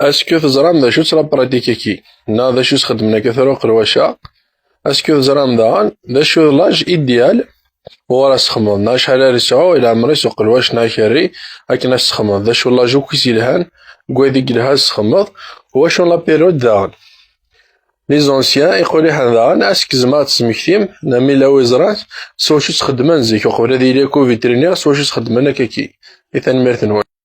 Asku teẓram d acu-tt la pratique-agi, neɣ d acu s-xeddmen akka tura uqerwac-a, asku teẓram daɣen d acu d l'âge idéal uɣur as-texmeḍ, neɣ acḥal ara yesɛu i leɛmer-is uqelwac neɣ akerri akken ad as-texmeḍ, d acu l'âge akk i s-yelhan deg wayen i yelha ad as-texmeḍ, u wacu la période daɣen. Les anciens, iquriḥen daɣen, asku tzemrem ad d-tesmektim, neɣ ma yella wi yeẓran, s wacu tt-xeddmen zik uqbel ad yili akk u vétérinaire s wacu tt-xeddmen akka-agi. I tanemmirt-nwen.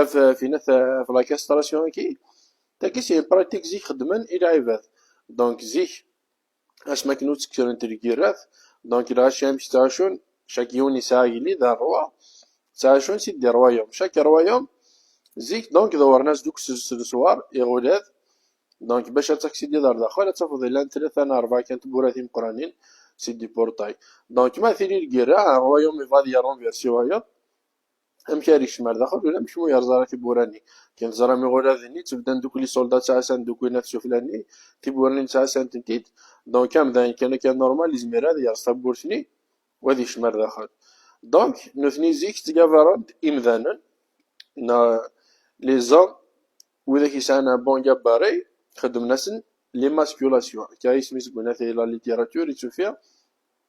Af tina tavlaka strasyon-agi, tagi si pratik zik xeddmen i lɛibad, donc zik asmi akken ur ttekkrent lgirrat, donc lɣaci amek ttɛucun, cak yiwen yesɛa agellid, rrwa, ttɛucun si ddi rwayum, cak rwayum zik donc dewren-as duk s leswar, iɣulad, donc bac ad taksidiḍ ar daxel ad tafeḍ yellan tlata neɣ rebɛa kan tewwura timeqqranin si ddi portay, donc ma tili lgirra, un rwayum yebɣa ad yerrun versi wayeḍ, amek ara yekcem ar daxel ula amek mu yerẓa ara tiwwura-nni. Ken teẓram iɣuladen-nni ttebdan dukli isolda ttɛassan dukli nat sufla-nni, tiwwura-nni ttɛassan-tent-id. Donc am dayen kan akka normal yezmer ad yerẓ tawwurt-nni u ad yekcem ar daxel. Donc nutni zik ttgabaren-d imdanen neɣ les hommes widak yesɛan un bon gabarit xeddmen-asen l'émasculation akka isem-is deg unatay la littérature i tt-ufiɣ.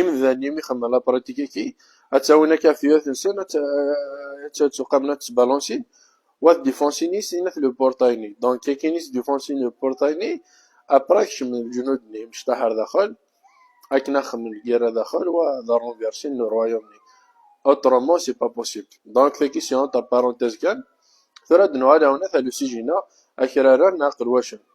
Imdanen imi xedmen la pratique aki, ad tawin akka tuyat nsen, ad ttuqamen ad ttbalansin, wa d defense-ines ina t le portail-nni. Donc akin is defensin le portail-nni, après kecmen lejnud-nni imecṭaḥ ar daxel, akken ad xedmen lgirra daxel, wa d renverser n royaume-nni. Autrement c'est pas possible. Donc taki si entre parenthèses kan, tura ad nuɣal awnat a l'usij-ina, akraren aqelwacen.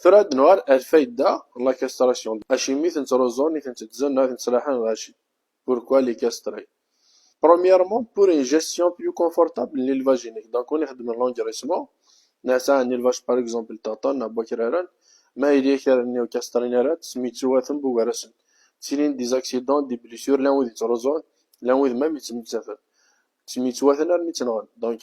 Tura ad nuɣal ar lfayda, la castration, acimi i ten-ttruẓun, i ten-tteddzen, ad ten-ttraḥen ɣer cci, pourquoi les castrer? Premièrement, pour une gestion plus confortable n l'élevage unique, donc win ixeddmen l'engraissement, neɣ sɛan élevage par exemple ṭaṭan neɣ n wakraren, ma yelli akraren-nni ur castrin ara, ttemyettuwaten bugar-asen, ttilin-d des accidents, des blessures, llan wid yettruẓun, llan wid même yettmettaten, ttemyettuwaten armi tt-nɣen, donc.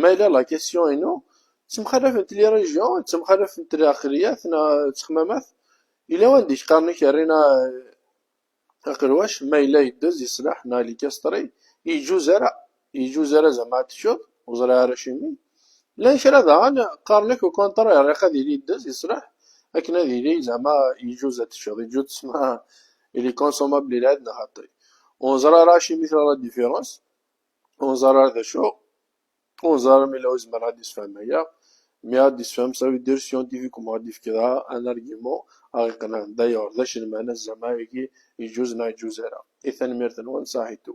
Ma yella la question inu ttemxalafent li region, ttemxalafent li aqliyat na ttexmamat, yella wanda i k-qqaren i k-rrin aqelwac ma yella yeddez yeslaḥ na li kastri yeǧuz ara, yeǧuz ara zama ad teččeḍ, ur ẓriɣ ara acimi. Llan kra daɣen qqaren ak ukunṭri riq ad yili yeddez yeslaḥ akken ad yili zama yeǧuz ad teččeḍ, yeǧuz tesma ili consommable ili ad neɣ xaṭi. Ur neẓri ara acimi tella la différence. ur neẓar ara d acu, ur neẓar ara ma yella yezmer ad d-yessefhem aya, mi ara d-yessefhem ça veut dire scientifiquement ad d-yefk dɣa un argument ara ɣ-iqenɛen, d'ailleurs d acu lmeɛna zzama-agi yeǧǧuz neɣ yeǧǧuz ara. I tanemmirt-nwen, saḥit-u.